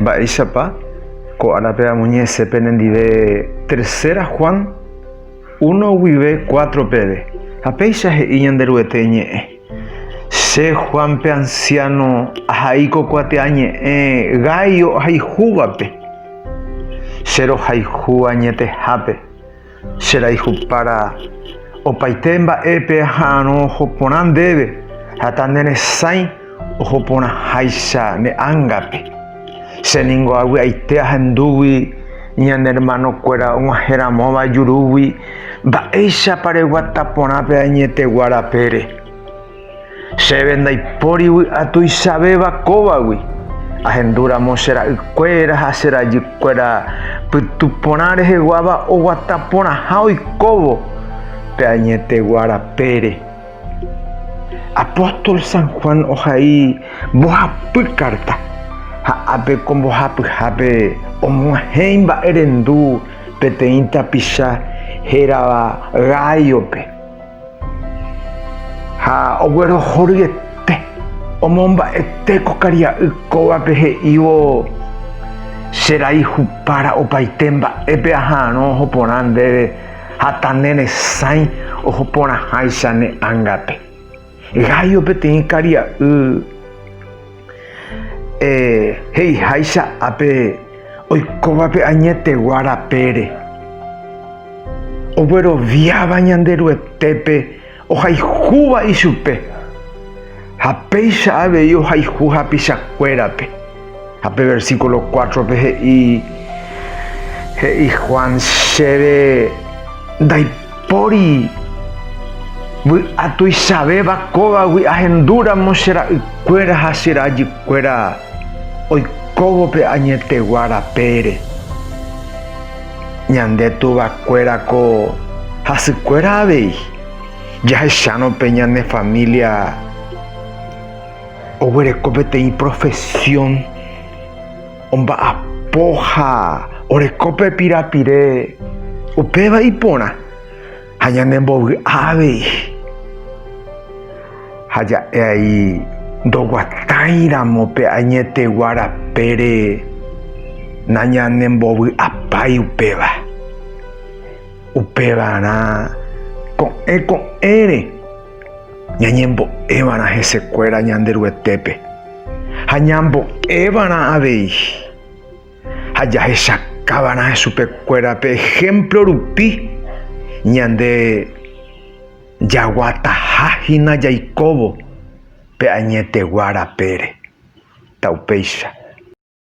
Mba'éichapa ko árape amoñe'ẽse penendive Tercera Juan uno guive cuatro peve, ha péicha he'i Ñanderuete ñe'ẽ, Che Juan pe ansiáno ahai ko kuatia ñe'ẽ gái ohayhúvape, che rohayhu añetehápe. Che rayhupára opaite mba'épe aha'arõ oho porã ndéve, ha ta ne resãi oho porãháicha ne ángape. Che ningo avy'aite ahendúgui ñane ermanokuéra og̃uahẽ ramóva jurúgui, mba'éichapa reguata porã pe añetegua rapére. Chéve ndaipóri vy'a tuichavéva kóvagui, ahendúramo che ra'ykuéra ha che rajykuéra pytu porã reheguáva oguata porãha oikóvo pe añetegua rapére. Apóstol San Juan ohai mbohapy kárta, ha ápe ko mbohapyhápe omo'ãhẽ imba'erendu peteĩ tapicha hérava Gáiope. Ha oguerohoryete, omomba'ete ko karia'y kóvape he'ívo, Che rai hupára opaite mba'épe aha'arõ oho porã ndéve ha ta ne resãi oho porãháicha ne ángape. Gayo peteĩ karia'y. He'iháicha ápe oikóvape añetegua rapére, ogueroviáva Ñanderuetépe ohaijúva ichupe, ha péicha avei ohayhu hapichakuérape. Ha pe versíkulo kuátrope he'i Juan, Chéve ndaipórinte Pori, vy'a tuichavéva kóvagui ahendúramo che ra'ykuéra ha che rajykuéra oikóvo pe añetegua rapére. Ñande tuvakuéra ko hasykuéra avei, jahechárõ pe ñane família oguereko peteĩ profesión. Omba'apo ha oreko pe pirapire upéva iporã ha ñanembovy'a avei. Ha ja'e ai ndoguatãi ramo pe añetegua rapére nañanembovy'apái upéva. Upevarã ko'ẽ ko'ẽre. ñañembo'évarã hesekuéra Ñanderuetépe ha ñambo'évarã avei ha jahechakava'erã chupekuéra pe ehémplo rupi, ñande jaguataha hína jaikóvo pe añetegua rapére. Taupéicha.